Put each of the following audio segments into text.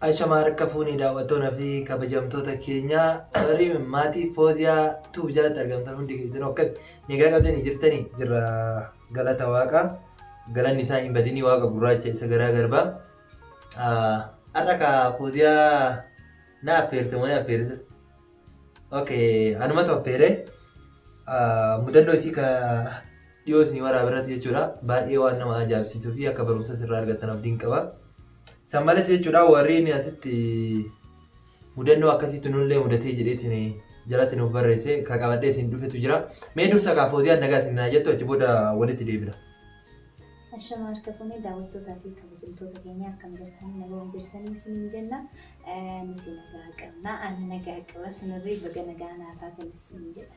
Ashama harka fuunee daawwattoota fi kabajamtoota keenya warri maatii Fooziyaa tuuf jalatti argamtan hundi keessan akkatti nagaa qabdanii jirtanii jirra galata waaqa galanni isaa hin badinii waaqa gurraacha isa garaa garbaa har'a ka Fooziyaa na affeerte moo na affeerte ok anumatu affeere mudannoo isii ka dhiyoo isinii waraaba irratti jechuudha baay'ee waan nama ajaa'ibsiisuu fi akka barumsas irraa argattan abdiin qaba. San malees jechuudha warreen asitti mudannoo akkasiitu nullee mudatee jedheetiin jalatti nuuf barreesse ka qabadhee isin dhufetu jira. Mee dursa kaa fooziyaan nagaa isin naa jettu achi booda walitti deebina. Ashama harka fuunee daawwattootaa fi kabajamtoota keenya akkam jirtan nagaa hin jirtanii isiniin jenna. Eh, Nuti nagaa qabna. Ani nagaa qaba. Sinirree baga nagaa naa taatan isiniin jedha.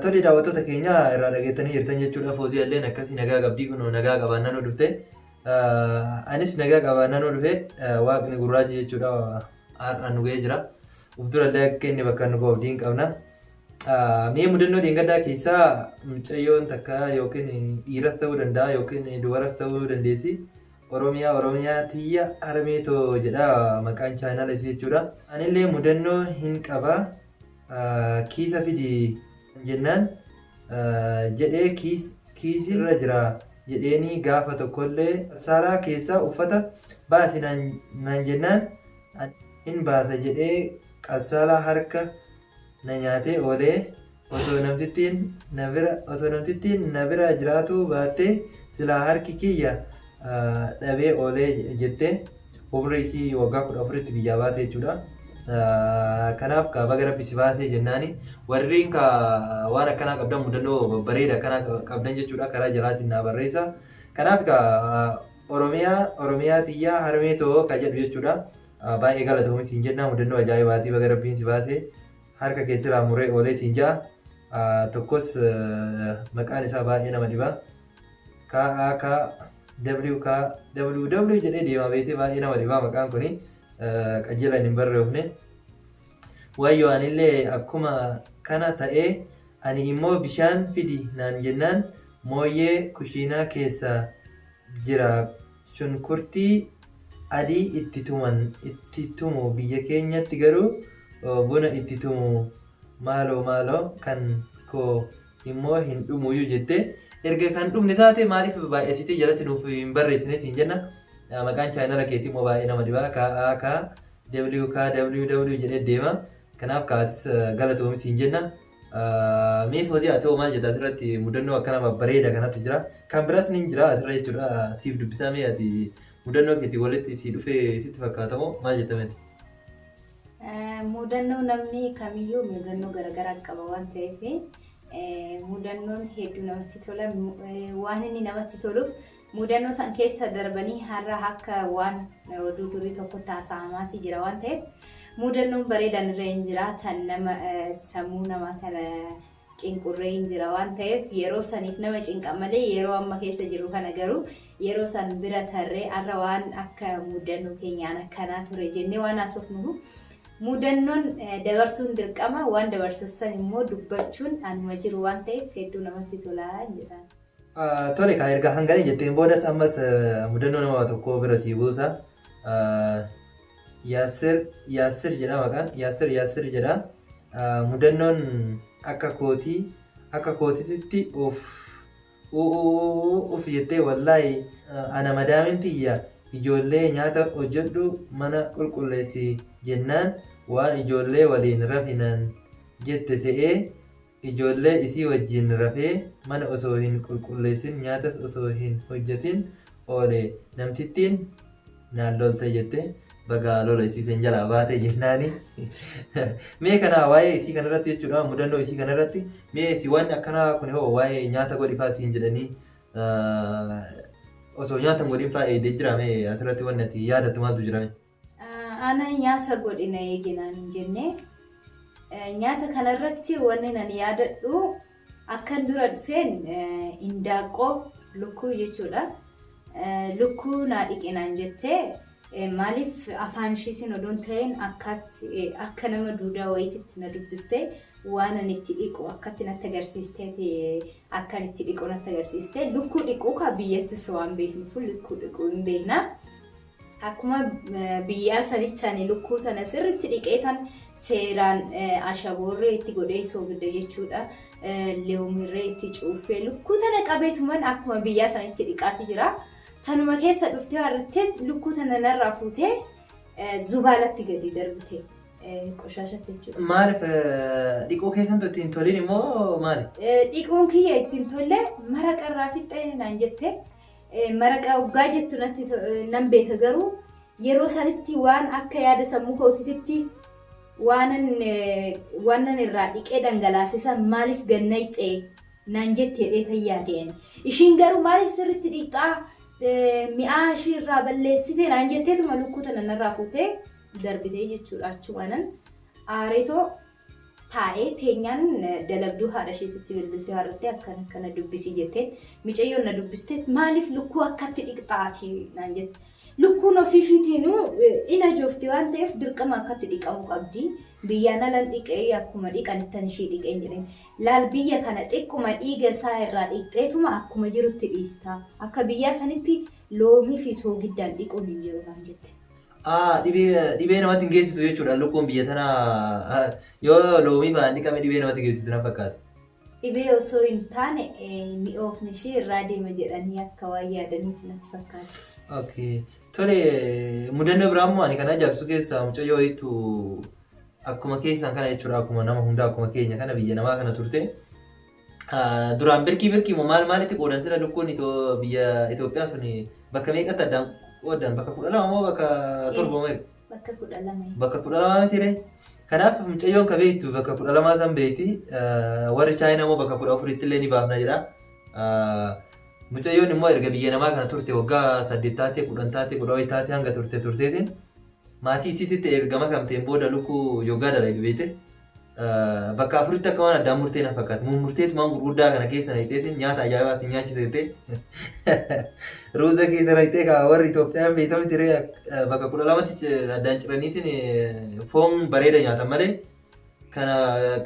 Tole daawwattoota keenya irraa dhageettanii jirtan jechuudha. Foozii illeen akkasii nagaa qabdii kun nagaa qabaan nanoo dhufte. Anis nagaa qabaan nanoo dhufe waaqni gurraachi jechuudha har'aan nu ga'ee jira. Uf dura illee akka inni bakka nu ga'u diin qabna. Mee mudannoo dheengaddaa keessaa mucayyoon takka yookiin dhiiras ta'uu danda'a yookiin dubaras ta'uu dandeessi. Oromiyaa Oromiyaa tiyya harmee too jedha maqaan chaanaala isii jechuudha. Anillee mudannoo hin qaba. kiisa fidi jennaan jedhee kiisi irra jira jedheenii gaafa tokkollee saalaa keessaa uffata baasi naan jennaan hin baasa jedhee qassaalaa harka na nyaatee oolee osoo namtittiin na bira osoo namtittiin na bira jiraatuu baattee silaa harki kiyya dhabee oolee jette Umrii isii waggaa 14tti biyyaa baate jechuudha. Kanaaf kaa baga rabbi si baasee jennaani warriin ka waan akkanaa qabdan mudannoo babbareeda akkanaa qabdan jechuudha karaa jalaatiin naa barreessa. Kanaaf ka Oromiyaa Oromiyaa tiyyaa harmee too ka jedhu jechuudha. Baay'ee galatoomi siin jennaa mudannoo ajaa'ibaatii baga rabbiin si baasee harka keessirraa muree oolee siin ja'a. Tokkos maqaan isaa baay'ee nama dhiba. KAK WK WW jedhee deemaa beekte baay'ee nama dhibaa maqaan kuni qajeelan hin barreefne. Wayyoo anillee akkuma kana ta'ee ani immoo bishaan fidi naan jennaan mooyyee kushiinaa keessa jira shunkurtii adii itti tuman itti tumu biyya keenyatti garuu buna itti tumu maaloo maaloo kan koo immoo hin dhumuuyyu jettee erga kan dhumne taate maaliif baay'eessitee jalatti nuuf hin barreessine siin jenna maqaan chaayinala keetii immoo baay'ee nama dhibaa kaa'aa kaa w kaa w w jedhee deema kanaaf kaatis galatoomi siin jenna mee foozii atoo maal jedha asirratti mudannoo akkana babbareeda kanatu jira kan biras ni jira asirra jechuudha siif dubbisaa mee ati mudannoo keetii walitti sii dhufee sitti fakkaatamoo maal jettamee Mudannoo namni kamiyyuu mudannoo garaagaraa qaba waan ta'eef mudannoon hedduu namatti tola. Waan inni namatti toluuf mudannoo san keessa darbanii har'a akka waan oduu durii tokkotti haasa'amaatii jira waan ta'eef mudannoon bareedaan irra hin jiraatan nama sammuu namaa kana cinqurree hin jira waan ta'eef yeroo saniif nama cinqa malee yeroo amma keessa jirru kana garuu yeroo san bira tarree arra waan akka mudannoo keenyaan akkanaa ture jennee waan haasofnuuf mudannoon dabarsuun dirqama waan dabarsassan immoo dubbachuun anuma jiru waan ta'eef hedduu namatti tolaa jedhaan. Tole kaa erga hangana jetteen boodas ammas mudannoo nama tokkoo bira sii buusa. Yaassir Yaassir jedha maqaan Yaassir Yaassir jedha mudannoon akka kootii akka kootititti of uf jettee wallaahi ana madaamin tiyya ijoollee nyaata hojjedhu mana qulqulleessi jennaan waan ijoollee waliin rafinaan jette se'ee Ijoollee isii wajjiin rafee, mana osoo hin qulqulleessin, nyaatas osoo hin hojjatin oole. Namtittiin naan lolte jette. Bagaa lola isii san jalaa baate jennaani. Mee kanaa waa'ee isii kanarratti jechuudha mudannoo isii kanarratti mee si waan akkanaa kun hoo waa'ee nyaata godhifaa siin jedhanii osoo nyaata hin godhinfaa eegdee jira mee asirratti waan ati yaadattu maaltu jira mee? Ana nyaata godhi na eegi naan hin jenne. Nyaata kanarratti wanni nan yaadadhu akkan dura dhufeen indaaqqoo lukkuu jechuudha. Lukkuu naa dhiqi naan jettee maaliif afaan ishiitiin odoon ta'een akka nama duudaa wayititti na dubbiste waan ani itti dhiqu akkatti natti agarsiisteeti akkan itti dhiqu natti agarsiiste lukkuu dhiquu kaa biyyattis waan beeknuuf lukkuu dhiquu hin beekna. Akkuma biyyaa sanichani lukkuu tana sirritti dhiqeetan seeraan ashaboorree itti godhee soogidda jechuudha. Leewumirree itti cuuffee lukkuu tana qabeetuman akkuma biyyaa sanitti dhiqaati jira. Tanuma keessa dhuftee harrattee lukkuu tana narraa fuutee zubaalatti gadi darbite qoshaashatti jechuudha. Maaliif dhiquu keessantu ittiin toliin immoo maali? Dhiquun kiyya ittiin tolle mara qarraa fixxee naan jette. Maraqa oggaa jettu natti nan beeka garuu yeroo sanitti waan akka yaada sammuu kootititti waanan waanan irraa dhiqee dhangalaase san maaliif gannayxee naan jette jedhee tayyaa ta'een. Ishiin garuu maaliif sirriitti dhiqxaa mi'aa ishii irraa balleessitee naan jetteetuma lukkuu tana narraa fuutee darbitee jechuudha achumaanan aareetoo taa'ee teenyaan dalagduu haadha isheetitti bilbiltee waarrattee akkana akkana dubbisii jetteen micayyoon na dubbiste maaliif lukkuu akkatti dhiqxaati naan jette. Lukkuun ofii ishiitiinuu in ajoofti waan ta'eef dirqama akkatti dhiqamu qabdi. Biyyaan alan dhiqee akkuma dhiqanittan ishii dhiqeen jedheen. Laal biyya kana xiqquma dhiiga isaa irraa dhiqxeetuma akkuma jirutti dhiista. Akka biyyaa sanitti loomii fi soogiddaan dhiquun hin jiru naan jette. Aa dhibee dhibee namatti hin geessitu jechuudha lukkuun biyya tana yoo loomii fa'aan dhiqame dhibee namatti geessitu na fakkaata. Dhibee osoo hin taane mi'oofni ishee irraa deema jedhanii akka waan yaadaniiti natti fakkaata. Okay. Tole mudannoo biraa immoo ani kan ajaa'ibsu keessaa mucayyoo wayiitu akkuma keessan kana jechuudha akkuma nama hundaa akkuma keenya kana biyya namaa kana turte Duraan birkii birkii moo maal maalitti qoodan sila lukkuun biyya Itoophiyaa sun bakka meeqatti addaan qoodan bakka kudha lama moo bakka torba moo bakka kudha lama bakka kudha lama miti ree kanaaf mucayyoon ka beektu bakka kudha lamaa san beekti warri chaayinaa moo bakka kudha afuritti illee ni baafna jedha mucayyoon immoo erga biyya namaa kana turte waggaa saddeet taatee kudhan taatee kudha wayi taatee hanga turte turteetiin maatii isiititti erga makamteen booda lukkuu yoggaa dalagi beekte. bakka afuritti akka waan addaan murtee na fakkaata. Mummurteetu waan gurguddaa kana keessa na hixeetiin nyaata ajaa'ibaa si nyaachise jettee ruuza keessa na hixee kaa warri Itoophiyaan beekamu tiree bakka kudha lamatti addaan ciraniitiin foon bareeda nyaatan malee kana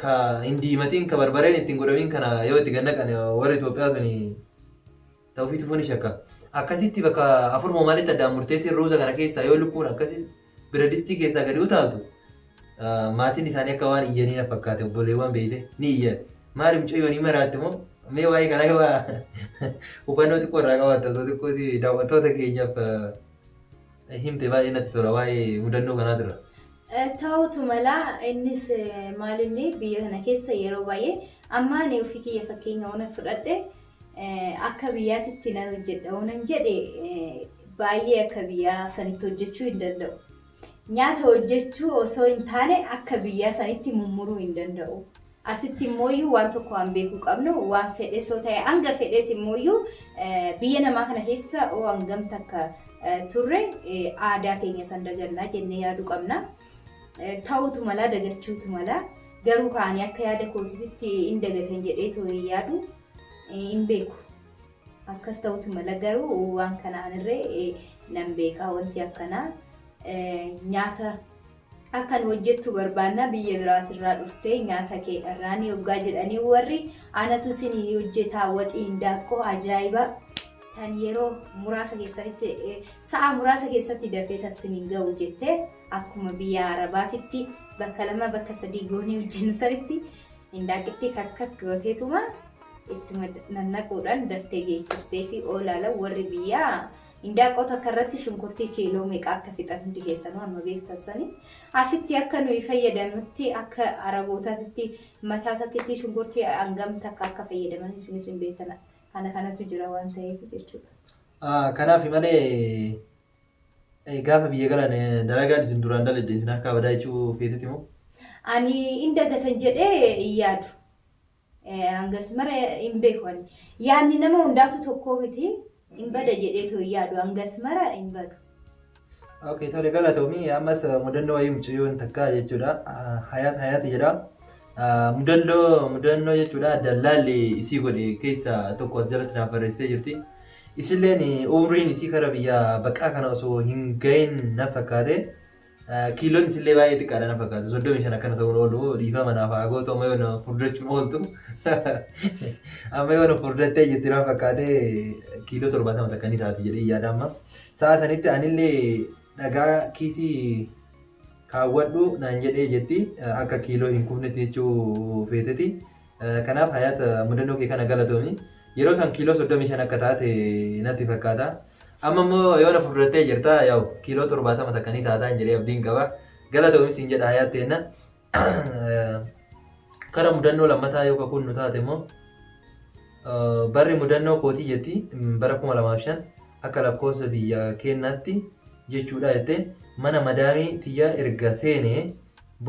ka hin diimatiin ka barbareen ittiin godhamiin kana yoo itti gannaqan warri Itoophiyaa suni Tawfiq Tufuu ni shakka. Akkasitti bakka afur moo maalitti addaan murteetiin ruuza kana keessaa yoo lukkuun akkasi biradistii keessaa gadi utaaltu ah, maatiin isaanii akka waan iyyanii na fakkaate obboleewwan beeyte ni iyyan. Maali mucayyoo ni maraatti moo mee waa'ee kanaa yoo waa hubannoo xiqqoo irraa qabaatta osoo xiqqoo si daawwattoota keenyaaf ah, himte baay'ee natti tola waa'ee mudannoo kanaa dura. Eh, Ta'utu mala innis eh, maalinni biyya kana keessa yeroo baay'ee amma ani ofii kiyya fakkeenya ona fudhadhe Akka biyyaatitti nan hojjedha yoo nan jedhe baay'ee akka biyyaa sanitti hojjechuu hin danda'u. Nyaata hojjechuu osoo hin taane akka biyyaa sanitti mummuruu hin danda'u. Asitti immooyyuu waan tokko waan beekuu qabnu waan fedhes yoo ta'e hanga fedhes immooyyuu biyya namaa kana keessa oo hangam takka turre aadaa keenya san dagannaa jennee yaaduu qabna. Ta'uutu malaa dagachuutu malaa garuu kaanii akka yaada kootisitti in dagatan jedhee too hin yaadu hin beeku. Akkas ta'uutu mala garuu waan kanaan irree nan beekaa wanti akkanaa nyaata akkan hojjettu barbaannaa biyya biraatirraa dhuftee nyaata kee dharraanii hoggaa jedhanii warri anatu isin hojjetaa waxiin daaqqoo ajaa'ibaa. tan yeroo muraasa keessatti eh, sa'a muraasa keessatti dafee tassin hin ga'u jettee akkuma biyya arabaatitti bakka lama bakka sadii goonii hojjennu sanitti indaaqitti katkat gooteetuma ittuma nannaquudhaan daftee geechistee fi oolaala warri biyyaa indaaqoo takka irratti shunkurtii kiiloo meeqa akka fixan hundi keessanuu amma beektasanii asitti akka nuyi fayyadamnutti akka arabootaatti mataa takkitti shunkurtii hangam takka akka fayyadaman isinis hin beektan kana kanatu jira waan ta'eef jechuudha. Kanaaf malee gaafa biyya galan dalagaan isin duraan dalagde isin harkaa badaa jechuu feetuti moo? Ani in dagatan jedhee in yaadu. Hangas mara hin beeku ani. Yaanni nama hundaatu tokkoo miti. Hin bada jedhee too hin yaadu. Hangas mara hin badu. Okay, tole galatoomii ammas mudannoo wayii mucayyoon takkaa jechuudha. Hayaat hayaat jedha. Mudannoo mudannoo jechuudha dallaalli isii godhe keessa tokko as jalatti naaf barreessitee jirti. Isilleen umriin isii kara biyya baqaa kana osoo hin gahin na fakkaate. Kiiloon isillee baay'ee xiqqaadha na fakkaate. Soddomii shan akkana ta'uun oolu dhiifama naaf haa gootu amma yoona furdachuun ooltu. Amma yoona furdattee jirti na fakkaate kiiloo torbaatama takka ni taati jedhee yaada amma. Sa'a sanitti anillee dhagaa kiisii kaawwadhu naan jedhee jetti akka kiiloo hin kufnetti jechuu feeteti. Kanaaf hayaat mudannoo kee kana galatoomi. Yeroo san kiiloo 35 akka taate natti fakkaata. Amma immoo yoo na fudurattee jirta yaa'u kiiloo 70 takka ni taataan jedhee abdiin qaba. Galatoomi siin jedha hayaat teenna. Kara mudannoo lammataa yoo kakuun nu taate immoo barri mudannoo kootii jetti bara 2005 akka lakkoofsa biyya keenyaatti jechuudha jettee mana madaamii tiyyaa erga seenee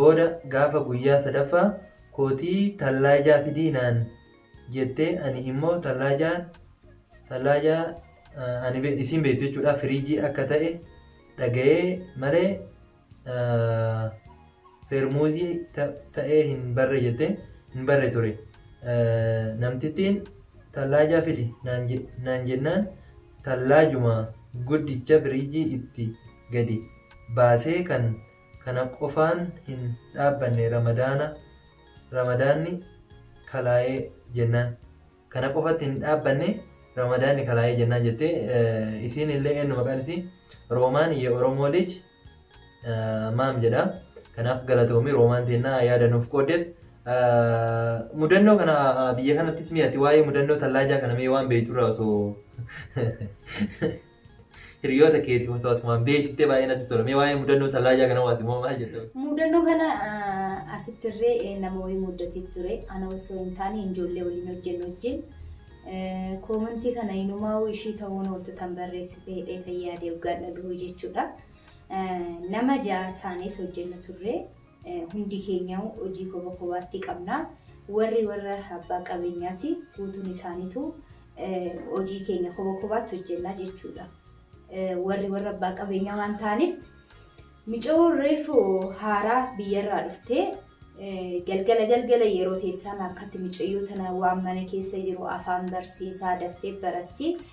booda gaafa guyyaa sadaffaa kootii tallaajaa fidii naan jettee ani immoo tallaajaa tallaajaa ani isiin beektu jechuudha firiijii akka ta'e dhaga'ee malee Feermuuzii ta'ee hin barre jettee hin barre ture. Namtittiin tallaajaa fidi naan jennaan tallaajuma guddicha firiijii itti gadi baasee kan kana qofaan hin dhaabbanne ramadaanni kalaa'ee jennaan. Kana qofatti hin dhaabbanne Ramadaanni kalaayee jennaan jettee isiin illee eenyu maqaan isii Roomaan ye Oromoo lij maam jedha. Kanaaf galatoomi Roomaan teennaa yaada nuuf qooddeef. Mudannoo kana biyya kanattis mee ati waa'ee mudannoo tallaajaa kana mee waan beekturraa osoo Hiriyoota keetiif osoo asumaan beeksiftee baay'ee natti tola. Mee waa'ee mudannoo tallaajaa kana waati moo maal jetta? Mudannoo kana ah, asittirree eh, nama wayii muddatee ture. Ana osoo hin taane ijoollee waliin hojjennu wajjin. Eh, Koomentii kana inumaa'uu ishii ta'uun ooltu tan barreessite hidhee tayyaadee hoggaan dhagahu jechuudha. Eh, Nama ja'a taanee hojjenna turre. Hundi keenyauu hojii koba kobaatti qabna. Warri warra abbaa qabeenyaati. Guutuun isaaniitu hojii keenya koba kobaatti hojjenna jechuudha. Warri warra abbaa qabeenyaa waan ta'aniif micoo reefu haaraa biyyarraa dhuftee galgala galgala yeroo teessaan akkatti micayyoo tana waan mana keessa jiru afaan barsiisaa daftee baratti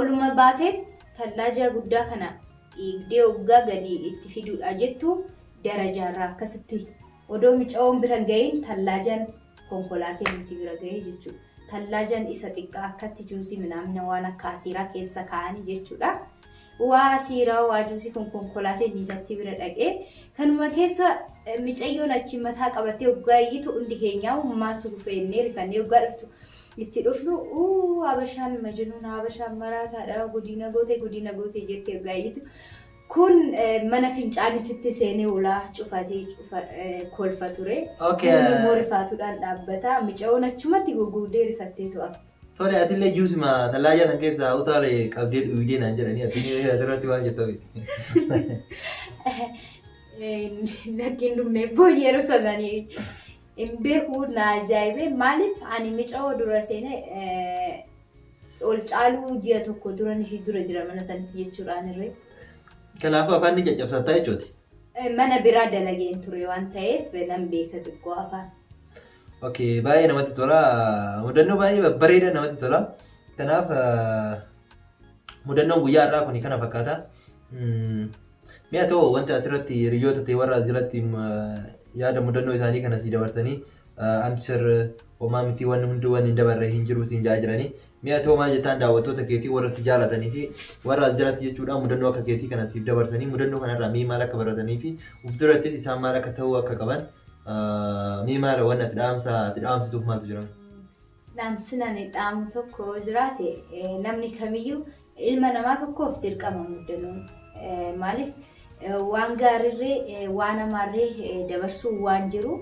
Oluma baateet tallaaja guddaa kana dhiigdee oggaa gadi itti fiduudhaa jettu darajaarraa akkasitti odoo micawoon bira hin ga'iin tallaajan konkolaatee nuti bira ga'ee jechuudha. Tallaajan isa xiqqaa akkatti juusii minaamina waan akka asiiraa keessa kaa'anii jechuudha. Waa asiiraa waa juusii kun konkolaateen isatti bira dhaqee kanuma keessa micayyoon achi mataa qabattee oggaa iyyitu hundi keenyaa maaltu dhufee innee rifannee oggaa dhuftu itti dhufnu uu habashaan majinuuna habashaan maraataadha gudiina goote gudiina goote jetti hoggaa iyyitu kun mana fincaanititti seenee ulaa cufatee cufa kolfa ture Okay. Kun immoo rifaatuudhaan dhaabbata micaoon achumatti gugguudee rifattee to'a Tole atillee juusuma tallaajaa san keessaa utaale qabdee dhuydee naan jedhanii atillee asirratti waan jettame. lakkiin dhumne boo yeroo sananii Hin beeku na ajaa'ibe maaliif ani mica'oo dura seene ol caaluu ji'a tokko duran ishii dura jira mana sanatti jechuudhaan irree. Kanaafuu afaan ni caccabsattaa jechuuti. Mana biraa dalageen ture waan ta'eef nan beeka xiqqoo afaan. Okay, baay'ee namatti tola. Mudannoo baay'ee babbareeda namatti tola. Kanaaf mudannoon guyyaa har'aa kun kana fakkaata. Mee atoo wanti asirratti hiriyyoota ta'e warra as jalatti yaada mudannoo isaanii kana sii dabarsanii amsir homaa mitii wanni hundi wanni hin dabarre hin jiru siin jaa jiranii. Mee atoo maal jettaan daawwattoota keetii warra si jaalatanii fi warra as jalatti jechuudhaan mudannoo akka keetii kana siif dabarsanii mudannoo kanarraa mee maal akka baratanii fi uf durattis isaan maal akka ta'uu akka qaban mee maal wanni ati dhaamsa ati dhaamsituuf maaltu jira? Dhaamsin ani dhaamu tokko yoo jiraate namni kamiyyuu ilma namaa tokkoof dirqama muddanuun maaliif waan gaariirree waan amaarree dabarsuu waan jiru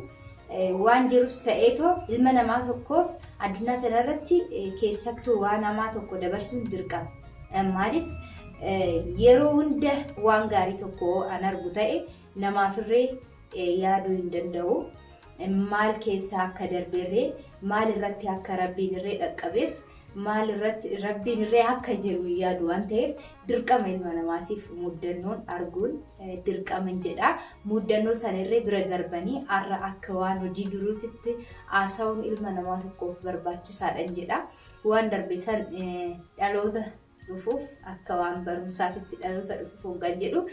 waan jirus ta'eetoo ilma namaa tokkoof addunyaa kanarratti keessattuu waan amaa tokko dabarsuun dirqama maaliif yeroo hunda waan gaarii tokko an argu ta'e Namaafirree yaaduu hin danda'u. Maal keessaa akka darberree, maal irratti akka Rabbiin irree dhaqqabeef, maal irratti Rabbiin irree akka jiru hin yaadu waan ta'eef dirqama ilma namaatiif muddannoon arguun dirqama hin jedha. Muddannoo sana irree bira darbanii har'a akka waan hojii duruutitti haasa'uun ilma namaa tokkoof barbaachisaadha hin jedha. Waan darbe san dhaloota dhufuuf akka waan barumsaatitti dhaloota dhufuuf hoggaan jedhu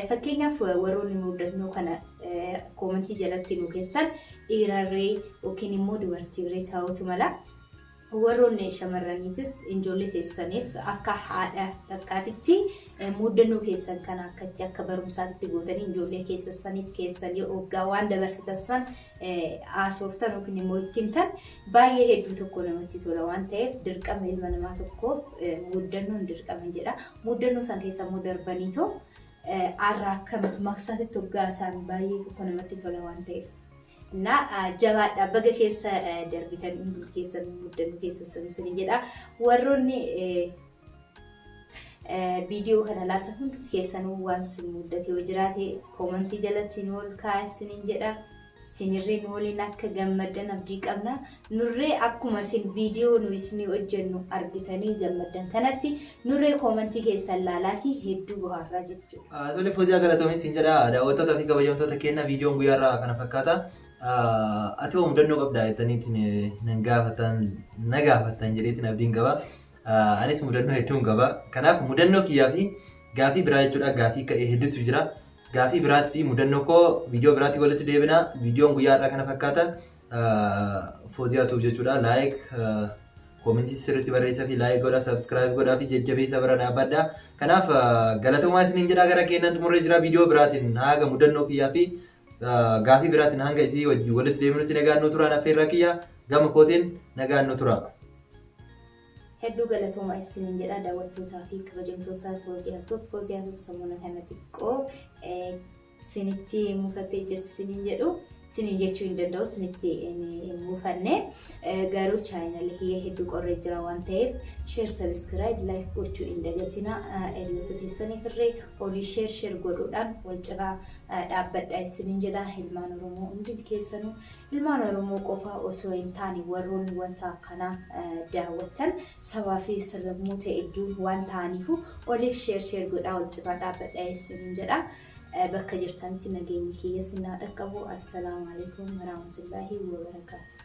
fakkeenyaaf warroonni muuddatnoo kana koomantii jalatti nu keessan dhiirarree yookiin immoo dubartiirree ta'utu mala. Warroonni shamarraniitis ijoollee teessaniif akka haadha takkaatitti muuddannoo keessan kana akka itti akka barumsaatitti gootanii ijoollee keessaniif keessanii hoggaa waan dabarsitan san haasoftan yookiin immoo itti himtan Baay'ee hedduu tokko namatti tola waan ta'eef dirqama ilma namaa tokkoof muuddannoon dirqama jedha. Muuddannoo san keessa immoo darbaniitoo arraa akka maqsaatti toggaa isaan baay'ee tokko namatti tola waan ta'eef. Na jabaadha baga keessa darbitan hundumti keessan muuddannoo keessa sanisin jedha. Warroonni Viidiyoo kana laata hundi keessanuu waan sin muddate yoo jiraate koomantii jalatti nu ol kaa'aa isiniin jedha. Sinirree nu waliin akka gammaddan abdii qabna. Nurree akkuma sin viidiyoo nu isinii hojjennu argitanii gammaddan kanatti nurree koomantii keessan laalaatii hedduu bohaarraa jechuudha. Tole Fooziyaa galatoomi siin jedha daawwattoota fi kabajamtoota keenya viidiyoon guyyaa irraa kana fakkaata. Ati hoo mudannoo qabdaa jettaniitiin nan gaafattan na gaafattan jedheetiin abdiin qaba. Anis mudannoo hedduun qaba. Kanaaf mudannoo kiyyaa fi gaafii biraa jechuudha. Gaafii ka'e hedduutu jira. Gaafii biraatii fi mudannoo koo viidiyoo biraatii walitti deebina. Viidiyoon guyyaa har'aa kana fakkaata. Fooziyaatuuf jechuudha. Laayik, koomentii sirriitti barreessaa fi laayik godhaa, sabskiraayib godhaa fi jajjabeessa bira dhaabbadha. Kanaaf galatoomaa isiniin jedhaa gara keenyaan xumurree jira. Viidiyoo biraatiin haga mudannoo kiyyaa fi gaafii biraatiin hanga isii wajjin walitti deebinutti nagaan nu turaan affeerraa kiyya gama kootiin nagaan nu tura. Hedduu galatooma isiniin jedha daawwattootaa fi kabajamtoota Fooziyaa Tuub. Fooziyaa Tuub sammuna kana xiqqoo sinitti mufattee jirti siniin jedhu. Siniin jechuu hin danda'u sinitti hin mufanne. Garuu chaayinalii kiyya hedduu qorree jira waan ta'eef sheer sabiskiraayib laayik gochuu hin dagatina. Hiriyoota keessaniif irree olii sheer sheer godhuudhaan wal cinaa dhaabbadha isinin jedha ilmaan oromoo hundil keessanu ilmaan oromoo qofaa osoo hin taane warroonni wanta akkanaa daawwattan sabaa fi sablammuu ta'edduu waan ta'aniifu oliif sheer sheer godhaa wal cinaa dhaabbadha isinin jedha bakka jirtanitti nageenyi kiyya sinnaa dhaqqabu assalaamu alaikum warahmatullaahi wabarakaatu.